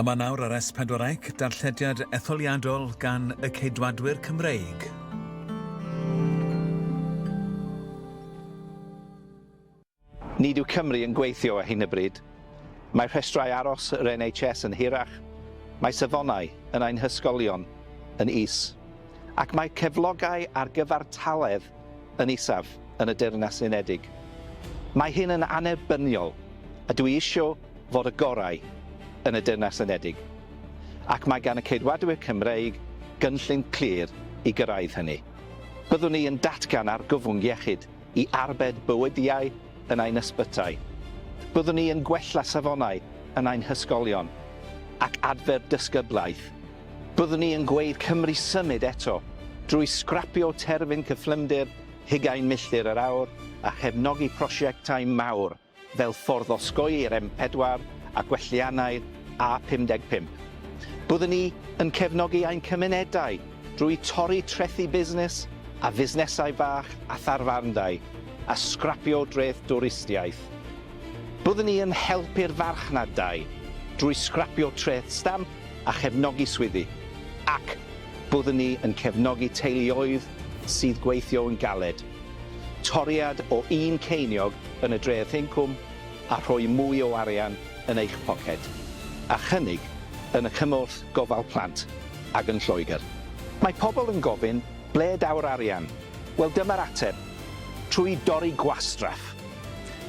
Yma nawr ar S4 Ec, darllediad etholiadol gan y Ceidwadwyr Cymreig. Nid yw Cymru yn gweithio ar hyn o bryd. Mae rhestrau aros yr NHS yn hirach, mae safonau yn ein hysgolion yn is, ac mae cyflogau ar gyfartaledd yn isaf yn y Deyrnas Unedig. Mae hyn yn annerbyniol, a dwi isio fod y gorau yn y Deyrnas Unedig, ac mae gan y Ceidwadwyr Cymreig gynllun clir i gyrraedd hynny. Byddwn i yn datgan argyfwng iechyd, i arbed bywydiau yn ein ysbytai. Byddwn ni yn gwella safonau yn ein hysgolion ac adfer dysgyblaeth. Byddwn ni yn gweudd Cymru symud eto drwy sgrapio terfyn cyflymder hugain milltir yr awr a chefnogi prosiectau mawr. fel ffordd o osgoi'r M4 a gwelliannau'r A55. Byddwn ni yn cefnogi ein cymunedau drwy torri trethi busnes a fusnesau bach a tharfarndai a sgrapio dreth dwristiaeth. Byddwn ni yn helpu'r farchnad dai drwy sgrapio treth stamp a chefnogi swyddi, ac byddwn ni yn cefnogi teuluoedd sydd gweithio'n galed. Toriad o un ceiniog yn y dreth incwm a rhoi mwy o arian yn eich poced, a chynnig yn y cymorth gofal plant ac yn Lloegr. Mae pobl yn gofyn, ble daw'r arian? Wel dyma'r ateb, trwy dorri gwastraff.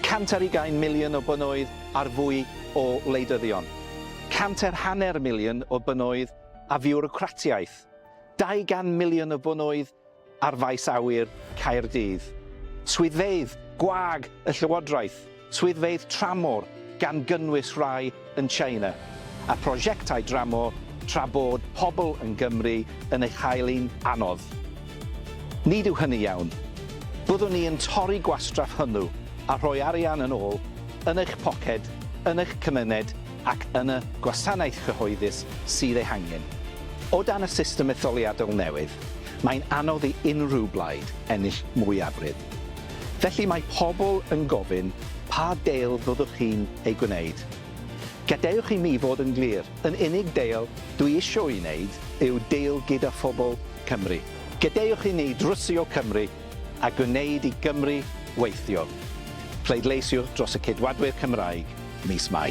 Cant ar ugain miliwn o bunnoedd ar fwy o wleidyddion. Cant ar hanner miliwn o bunnoedd a fiwrocratiaeth. Dau gan miliwn o bunnoedd ar Faes Awyr Caerdydd, swyddfeydd gwag y Llywodraeth, swyddfeydd tramor, gan gynnwys rhai yn China, a phrosiectau dramor tra bod pobl yn Gymru yn ei chael hi'n anodd. Nid yw hynny iawn. Byddwn ni yn torri gwastraff hwnnw a rhoi arian yn ôl yn eich poced, yn eich cymuned, ac yn y gwasanaeth cyhoeddus sydd ei hangen. O dan y system etholiadol newydd, mae'n anodd i unrhyw blaid ennill mwyafrif. Felly mae pobl yn gofyn, pa deal fyddwch chi'n ei gwneud? Gadewch i mi fod yn glir, yn unig deal dwi isio'i wneud yw deal gyda phobl Cymru. Gadewch i ni drwsio Cymru a gwneud i Gymru weithio. Pleidleisiwch dros y Ceidwadwyr Cymraeg mis Mai.